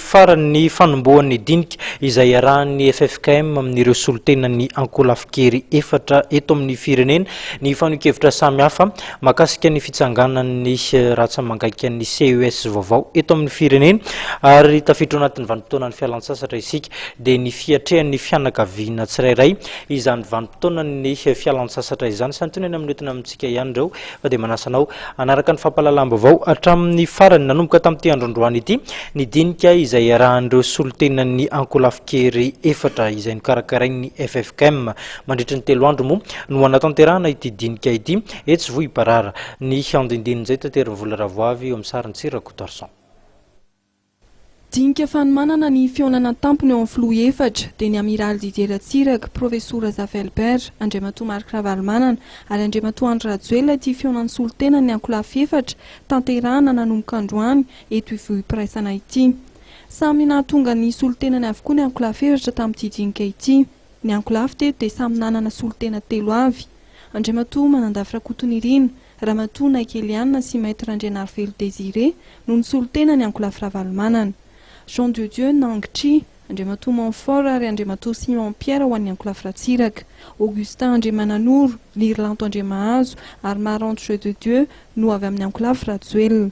Farany, ny fanombohan'ny dinika izay iarahan'ny ffkm amin'ireo solontenan'ny ankolafin-kery efatra eto amin'ny firenena ny fanehoan-kevitra samihafa mahakasika ny fitsanganan'ny rantsa mangaikan'ny CES vaovao eto amin'ny firenena ary tafiditra ao anatin'ny vanim-potoanan'ny fialantsasatra isika dia ny fiatrehan'ny fianakaviana tsirairay izany vanim-potoanan'ny fialantsasatra izany. Santionany amin'ny hoentina amintsika ihany ireo fa dia manasa anao hanaraka ny fampahalalam-baovao hatramin'ny farany nanomboka tamin'ity andro androany ity ny dinika izay iarahan'ireo solontenan'ny ankolafin-kery efatra izay nokarakarain'ny ffkm mandritry ny telo andro moa no hanatanterahana ity dinika ity etsy Vohibarara. Ny andindinin'izay taterin-dRavoavy eo amin'ny sarintsy Rakotoarison. Dinika fanomanana ny fihaonana an-tampony ao amin'ny Filoha efatra dia ny Amiraly Didier Ratsiraka, Professor Razafy Albert, Andriamatoa Marc Ravalomanana ary Andriamatoa Andry Rajoelina ity fihaonan'ny solontenan'ny ankolafy efatra tanterahana nanomboka androany eto Ivohipiraisana ity. Samy nahatonga ny solontenany avokoa ny ankolafy efatra tamin'ity dinika ity. Ny ankolafy teto dia samy nanana solontena telo avy, Andriamatoa Manandafy Rakotonirina, Ramatoa Naiky Eliane sy Maître Randrianarivelo Désiré no nisolontena ny ankolafy Ravalomanana. Jean de Dieu Nang Chi, Andriamatoa Monfort ary Andriamatoa Simon Pierre ho an'ny ankolafy Ratsiraka. Augustin Andriamananoro, Lirilanto Andriamahazo ary Maranto Jeu de Dieu no avy amin'ny ankolafy Rajoelina.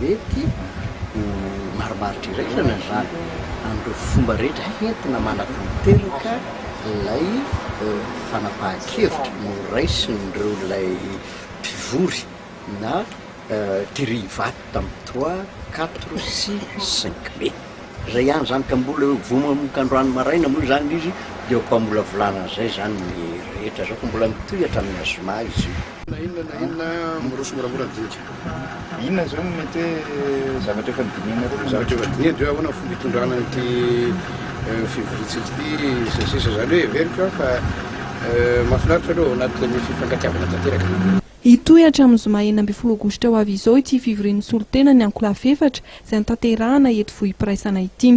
Mety ho marimaritra iraisana izany amin'ireo fomba rehetra entina manatanteraka ilay fanapahan-kevitra noraisin'ireo ilay mpivory na Terry Ivato tamin'ny trois, quatre sy cinq mai. Zay ihany zany ka mbola eo vao manomboka androany maraina moa izany izy dia eo am-pamolavolana an'izay izany ny rehetra zao ka mbola mitohy hatramin'ny a zoma izy io. Na inona na inona miroso moramora ny dinika. Inona izao no mety hoe zavatra efa nodinihanareo? Zavatra efa dinihana dia hoe ahoana ny fomba hitondrana an'ity fivoriantsika ity sy ny sisa izany hoe heveriko an fa mahafinaritra aloha ao anatin'ny fifankatiavana tanteraka. Hitohy hatramin'ny zoma enina ambin'ny folo aogositra ho avy izao ity fivorian'ny solontenan'ny ankolafy efatra izay notanterahana eto Vohipiraisana ity.